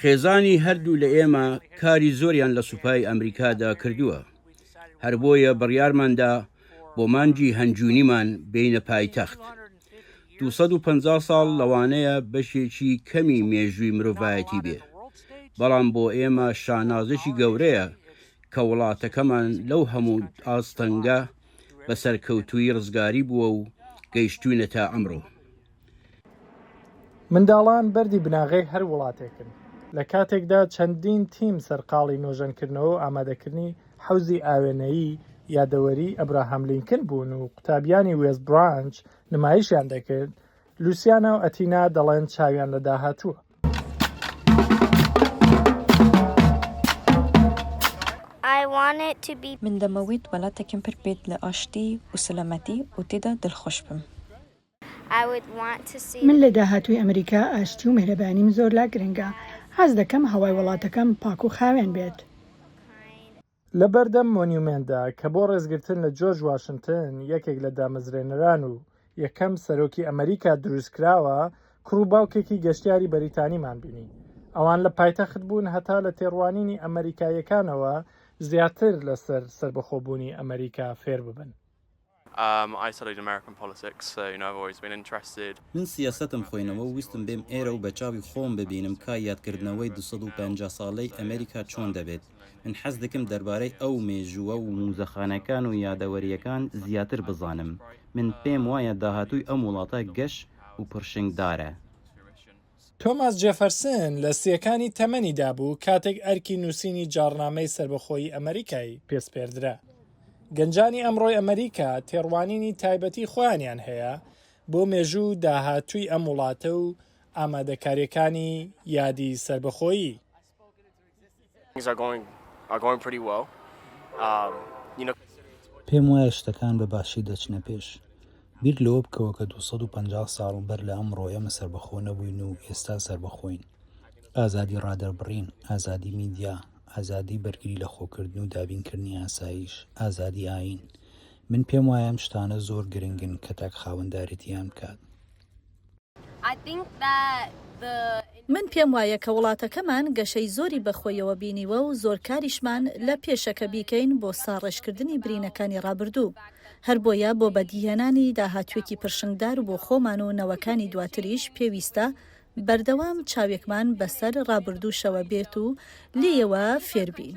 خێزانی هەردوو لە ئێمە کاری زۆریان لە سوپای ئەمریکادا کردووە هەر بۆیە بڕیارماندا بۆ مانجی هەنجوونیمان بینە پایتەخت 250 ساڵ لەوانەیە بەشێکی کەمی مێژووی مرۆڤایەتی بێ بەڵام بۆ ئێمە شانازێکی گەورەیە کە وڵاتەکەمان لەو هەموو ئاستەنگە بە سەرکەوتوویی ڕزگاری بووە و گەیشتووینە تا ئەمڕۆ. منداڵان بەردی بناغەی هەر وڵاتێکن، لە کاتێکدا چەندین تیم سەرقاڵی نۆژەنکردنەوە و ئامادەکردنی حەوزی ئاوێنەیی یادەوەریی ئەبراهام لینکن بوون و قوتابیانی وێست برانچ نمایشیان دەکرد، لوسیانا و ئەتینا دەڵێن چاویان لە داهاتووە. من دەمەویت وەلاتەکیم پر بیت لە ئاشتی و سەلامەتی و تیدا دلخوش بم. من لە داهاتووی ئەمریکا ئاشتی و میهرەبانیم زۆر لا گرنگە. حەز دەکەم هەوای وەڵاتەکەم پاک و خاوێن بێت. لە بەردەم مۆنیومێنتدا کە بۆ ڕێزگرتن لە جۆرج واشنتن، یەکێک لە دامەزرێنەران و یەکەم سەرۆکی ئەمەریکا دروستکراوە، کوڕ و باوکێکی گەشتیاری بەریتانیمان بینی. ئەوان لە پایتەخت بوون هەتا لە تێڕوانینی ئەمەریکاییەکانەوە زیاتر لەسەر سەربەخۆبوونی ئەمەریکا فێر ببن. من سیاسەتم خۆینەوە و ویستم بێم ئێرە و بە چاوی خۆم ببینم کا یادکردنەوەی دوو سەد و پەنجا ساڵەی ئەمریکا چۆن دەبێت. من حەزدکم دەربارەی ئەو مێژووە و موزەخانەکان و یادەوەرییەکان زیاتر بزانم. من پێم وایە داهاتووی ئەم وڵاتە گەش و پڕشنگدارە. تۆماس جێفەرسن لە سیەکانی تەمەنیدا بوو کاتێک ئەرکی نووسینی جاڕنامەی سەربەخۆیی ئەمەریکای پێسپێردرا. گەنجانی ئەمڕۆی ئەمەریکا تێڕوانینی تایبەتی خۆیانیان هەیە بۆ مێژوو و داهاتووی ئەم وڵاتە و ئامادەکاریەکانی یادی سەربەخۆیی. پێم وایە شتەکان بە باشی دەچنە پێش. بیر لەوە بکەوە کە دوو سەد و پەنجا ساڵ بەر لە ئەمڕۆ ئێمە سەربەخۆ نەبووین و ئێستا سەربەخۆین. ئازادی ڕادەربڕین، ئازادی میدیا، ئازادی بەرگری لەخۆکردن و دابینکردنی ئاسایش، ئازادی ئایین. من پێم وایە ئەم شتانە زۆر گرنگن کە تاک خاوەندارێتییان بکات. من پێم وایە کە وڵاتەکەمان گەشەی زۆری بە خۆیەوە بینیوە و زۆر کاریشمان لە پێشە کە بیکەین بۆ ساڕێژکردنی برینەکانی ڕابردوو، هەر بۆیە بۆ بەدیهێنانی داهاتوێکی پرشنگدار بۆ خۆمان و نەوەکانی دواتریش پێویستە بەردەوام چاوێکمان بەسەر ڕابردووشەوە بێت و لێیەوە فێربین.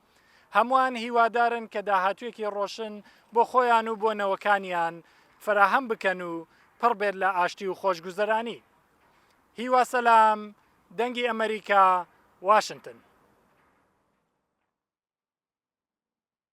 هەمووان هیوادارن کە داهاتوویەکی ڕۆشن بۆ خۆیان و بۆ نەوەکانیان فەراهەم بکەن و پڕ بێت لە ئاشتی و خۆشگوزەرانی. هیوا سەلام، دەنگی ئەمەریکا، واشنتن.